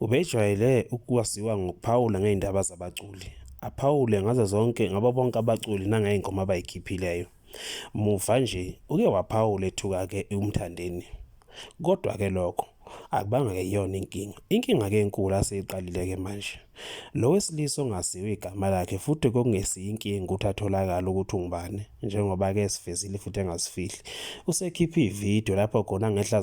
Ubejwayele ukwaziwa ngokuphawula ngey'ndaba zabaculi, aphawule ngazo zonke ngabo bonke abaculi nangey'ngoma abay'khiphileyo. Muva nje uke waphawula ethuka-ke uMthandeni. Kodwa-ke lokho akubanga-ke iyona inkinga. Inkinga-ke enkulu aseyiqalile-ke manje. Lo wesilisa ongaziwa igama lakhe futhi kokungesiyo inkinga ukuthi atholakale ukuthi ungubani njengoba ke esivezile futhi engasifihli. Usekhiphe ivideo lapho khona ngehla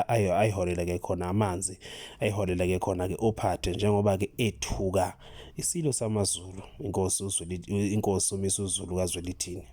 ayiholele ke khona amanzi ayiholele ke khona ke ophathe njengoba ke ethuka isilo samaZulu inkosi uZulu inkosi umisa uZulu kaZwelithini.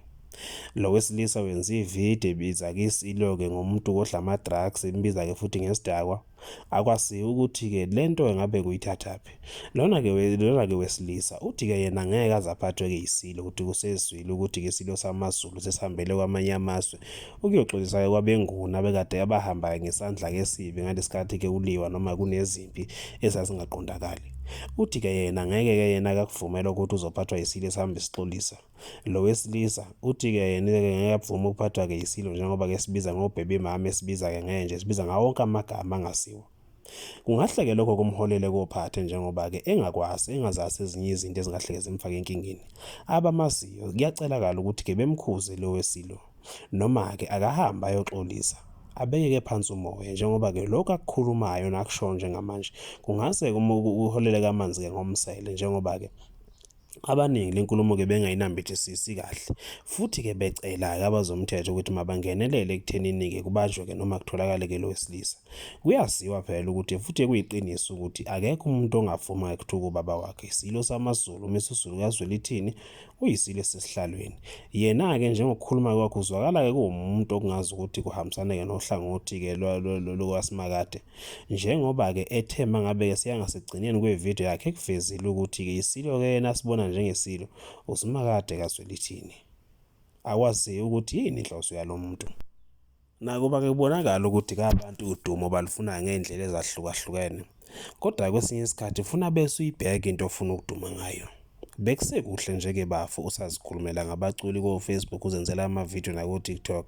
Lo wesilisa wenza ivideo ebiza ke isilo ke ngomuntu kodla ama-drugs imbiza ke futhi ngesidakwa. Akwaziwa ukuthi-ke le nto engabe kuyithathaphi. Lona-ke lona-ke wesilisa uthi-ke yena ngeke aze aphathwe-ke yisilo ukuthi kusezwile ukuthi-ke isilo samaZulu sesihambele kwamanye amazwe ukuyoxolisa-ke kwabenguni abekade abahambayo ngesandla-ke esibi ngalesi khathi-ke kuliwa noma kunezimpi ezazingaqondakali. Uthi-ke yena ngeke-ke yena akakuvumela ukuthi uzophathwa yisilo esihambe sixolisa. Lo wesilisa uthi-ke yena-ke ngeke avume ukuphathwa-ke yisilo njengoba-ke sibiza ngobhebe mama esibiza-ke ngenje sibiza ngawo wonke amagama angasiwo kungahleke lokho kumholele kophathe njengoba-ke engakwazi engazazi ezinye izinto ezingahleke zimfake enkingeni abamaziyo kuyacelakala ukuthi-ke bemkhuze lo wesilo noma-ke akahambe ayoxolisa abeke-ke phansi umoya njengoba-ke lokhu akukhulumayo nakushoyo njengamanje kungase kuholele kamanzi-ke ngomsele njengoba-ke Abaningi le nkulumo-ke bengayinambithisisi kahle, futhi-ke becela-ke abazomthetho ukuthi mabangenelele ekuthenini-ke kubanjwe-ke noma kutholakale-ke lo wesilisa. Kuyaziwa phela ukuthi futhi kuyiqiniso ukuthi akekho umuntu ongavuma ekuthuka ubaba wakhe. Isilo samaZulu, uMisuzulu kaZwelithini, uyisilo esesihlalweni. Yena-ke njengokukhuluma kwakhe uzwakala-ke kuwumuntu okungazi ukuthi kuhambisana-ke nohlangothi-ke lwakwaSimakade. Njengoba-ke ethe mangabe-ke seyangasekugcineni kwevidiyo yakhe ekuvezile ukuthi-ke isilo-ke yena asibona njengesilo, uSimakade kaZwelithini. Akwaziyo ukuthi yini inhloso yalo muntu. Nakuba-ke kubonakala ukuthi kabantu udumo balufuna ngey'ndlela ezahlukahlukene, kodwa kwesinye isikhathi funa bese uyibheke into ofuna ukuduma ngayo. Bekusekuhle nje ke bafo usazikhulumela ngabaculi ko-Facebook uzenzela ama-video nako-TikTok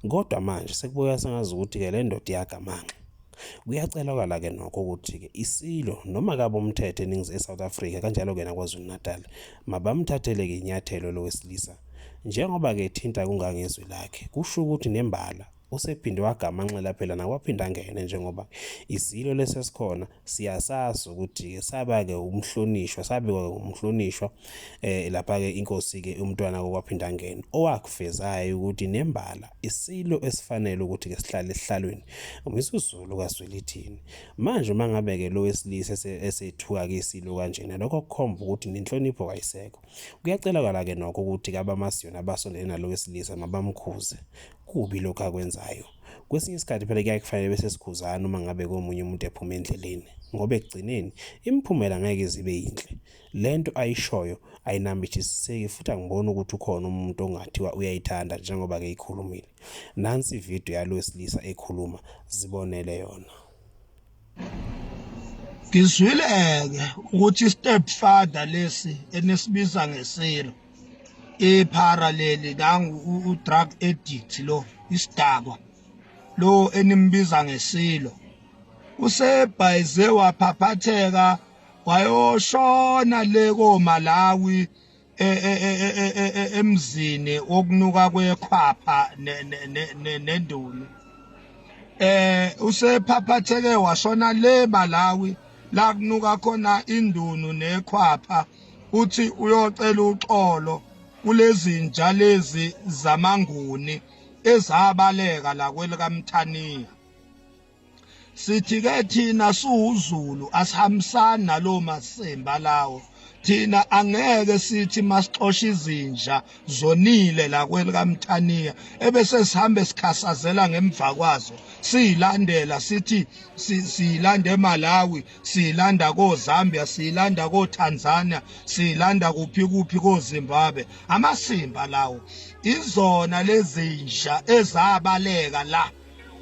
kodwa manje sekubukeka sengazi ukuthi-ke le ndoda iyagamanxa. Kuyacelakala ke nokho ukuthi-ke isilo noma kabe umthetho eningizimu e-South Africa kanjalo-ke naKwaZulu-Natal mabamthathele-ke inyathelo lo wesilisa njengoba-ke ethinta kungangezwi lakhe kusho ukuthi nembala usephinde wagamanxela phela nakwaphinda angene njengoba isilo lesesikhona siyasazi ukuthi-ke saba-ke umhlonishwa sabekwa-ke umhlonishwa um lapha-ke inkosi-ke umntwana kokwaphindangene owakuvezayo ukuthi nembala isilo esifanele ukuthi-ke sihlale esihlalweni umizuzulu kazwelithini manje uma ngabe-ke lo wesilisa esethuka-ke isilo kanjena lokho kukhomba ukuthi nenhlonipho kayisekho kuyacelakala-ke nokho ukuthi-ke abamasiyona abasondele nalo wesilisa mabamkhuze kubi lokhu akwenzayo Kwesinye isikhathi phela kuyaye kufanele bese sikhuzana uma ngabe komunye umuntu ephuma endleleni ngoba ekugcineni imiphumela ngeke zibe yinhle. Le nto ayishoyo ayinambithisiseki futhi angiboni ukuthi ukhona umuntu ongathiwa uyayithanda njengoba-ke ikhulumile. Nansi ividiyo yalo wesilisa ekhuluma, zibonele yona. Ngizwile-ke ukuthi i-stepfather lesi enisibiza ngesilo iphara leli nangu u-drug addict lo isidakwa lo enimbiza ngesilo usebhayize waphaphatheka wayoshona le koMalawi e- e- e- e- e- e- e- emzini wokunuka kwekhwapha ne- ne- ne- ne- nendunu eh usephaphatheke washona le Malawi la kunuka khona indunu nekhwapha uthi uyocela uxolo kulezinja lezi zamanguni ezabaleka la kwelikaMthaniya sithi ke thina siwuZulu asihambisani nalowo masimba lawo thina angeke sithi masixosha izinja zonile la kwelikamthaniya ebese sihambe sikhasazela ngemva kwazo siyilandela sithi siyilanda eMalawi siyilanda koZambia siyilanda koTanzania siyilanda kuphi kuphi koZimbabwe amasimba lawo izona lezinja ezabaleka la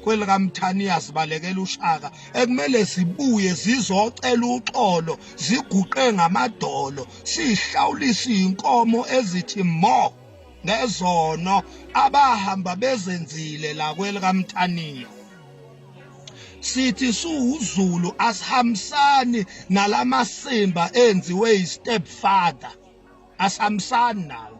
kwelikaMthaniya zibalekela uShaka ekumele zibuye zizocela uxolo ziguqe ngamadolo sihlawulisa inkomo ezithi mo ngezono abahamba bezenzile la kwelikaMthaniya sithi suwuzulu asihambisani nalamasimba enziwe istepfather asihambisani nawo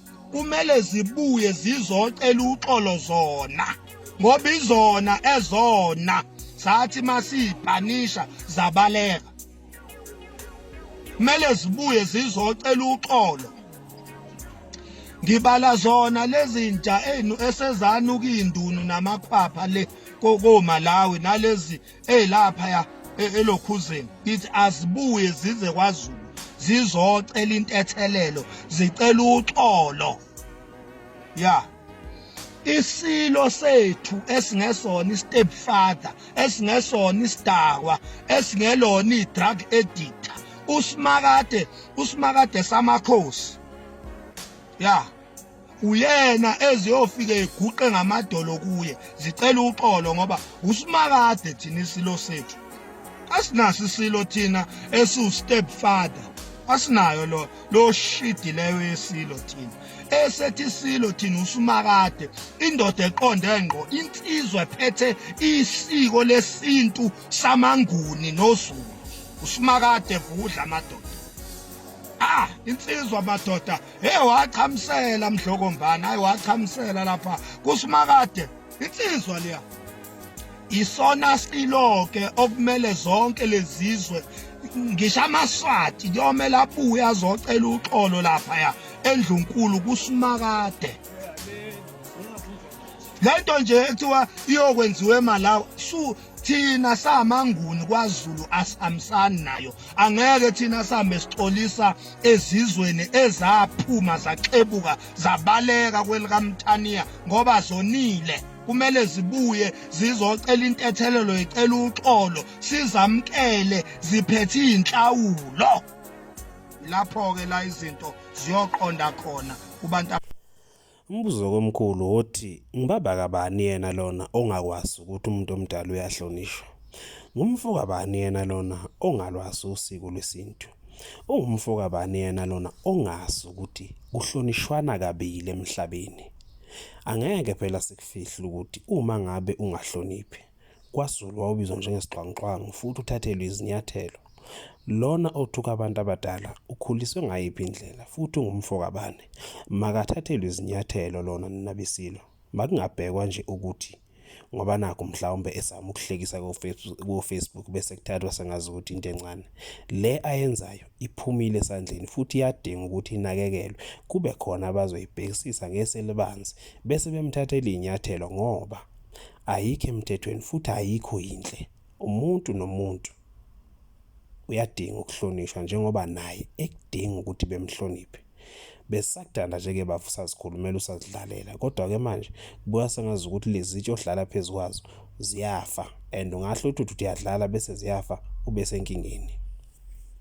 kumele zibuye zizocela uxolo zona ngoba izona ezona zathi masiyibhanisha zabaleka kumele zibuye zizocela uxolo ngibala zona lezinja enu esezanukindunu namakhwapha le koMalawi nalezi ezilaphaya e, elokhuzeni ithi azibuye zize kwaZulu zizocela intethelelo zicela uxolo ya isilo sethu esingesona istep father esingesona isidakwa esingelona idrug addict usimakade usimakade samakhosi ya yeah. uyena eziyofika eguqe ngamadolo kuye zicela uxolo ngoba usimakade thina isilo sethu asinaso isilo thina esiwu step father asinayo lo lo shidi leyo yesilo thina esethi isilo thina usumakade indoda eqonde ngqo insizwa ephethe isiko lesintu samanguni nozulu usumakade vudla amadoda ah insizwa madoda Hey wachamsela mdlokombana, hayi wachamsela lapha kusimakade insizwa leya. Isona silo ke okumele zonke lezizwe ngisho amaswati kuyomela abuye azocela uxolo lapha ya endlunkulu kusimakade. Lento nje ekuthiwa iyokwenziwa eMalawi su thina samanguni kwaZulu asihambisani nayo angeke thina sambe sixolisa ezizweni ezaphuma zaxebuka zabaleka kwelikamthaniya ngoba zonile kumele zibuye zizocela intethelelo icela uxolo sizamkele ziphethe inhlawulo lapho ke la izinto ziyoqonda khona kubantu Umbuzo komkhulu wothi ngibaba kabani yena lona ongakwazi ukuthi umuntu omdala uyahlonishwa? Ngumfo kabani yena lona ongalwazi usiko lwesintu? Ungumfo kabani yena lona ongazi ukuthi kuhlonishwana kabili emhlabeni? Angeke phela sikufihle ukuthi uma ngabe ungahloniphi KwaZulu wawubizwa njengesixhwanguxhwangu futhi uthathelwe izinyathelo. Lona othuka abantu abadala ukhuliswe ngayiphi indlela futhi ungumfo kabani? Makathathelwe izinyathelo lona nina beSilo. Makungabhekwa nje ukuthi ngoba nakho mhlawumbe esama ukuhlekisa ko-Facebook bese kuthathwa sengazi ukuthi into encane. Le ayenzayo iphumile esandleni futhi iyadinga ukuthi inakekelwe. Kube khona abazoyibhekisisa ngeso elibanzi bese bemthathela iy'nyathelo ngoba ayikho emthethweni futhi ayikho yinhle umuntu nomuntu uyadinga ukuhlonishwa njengoba naye ekudinga ukuthi bemhloniphe besakudala nje-ke bafu sazikhulumela usazidlalela kodwa-ke manje kubuya sengazi ukuthi lezitsha ohlala phezu kwazo ziyafa and ungahle uthi uthi uyadlala bese ziyafa ube senkingeni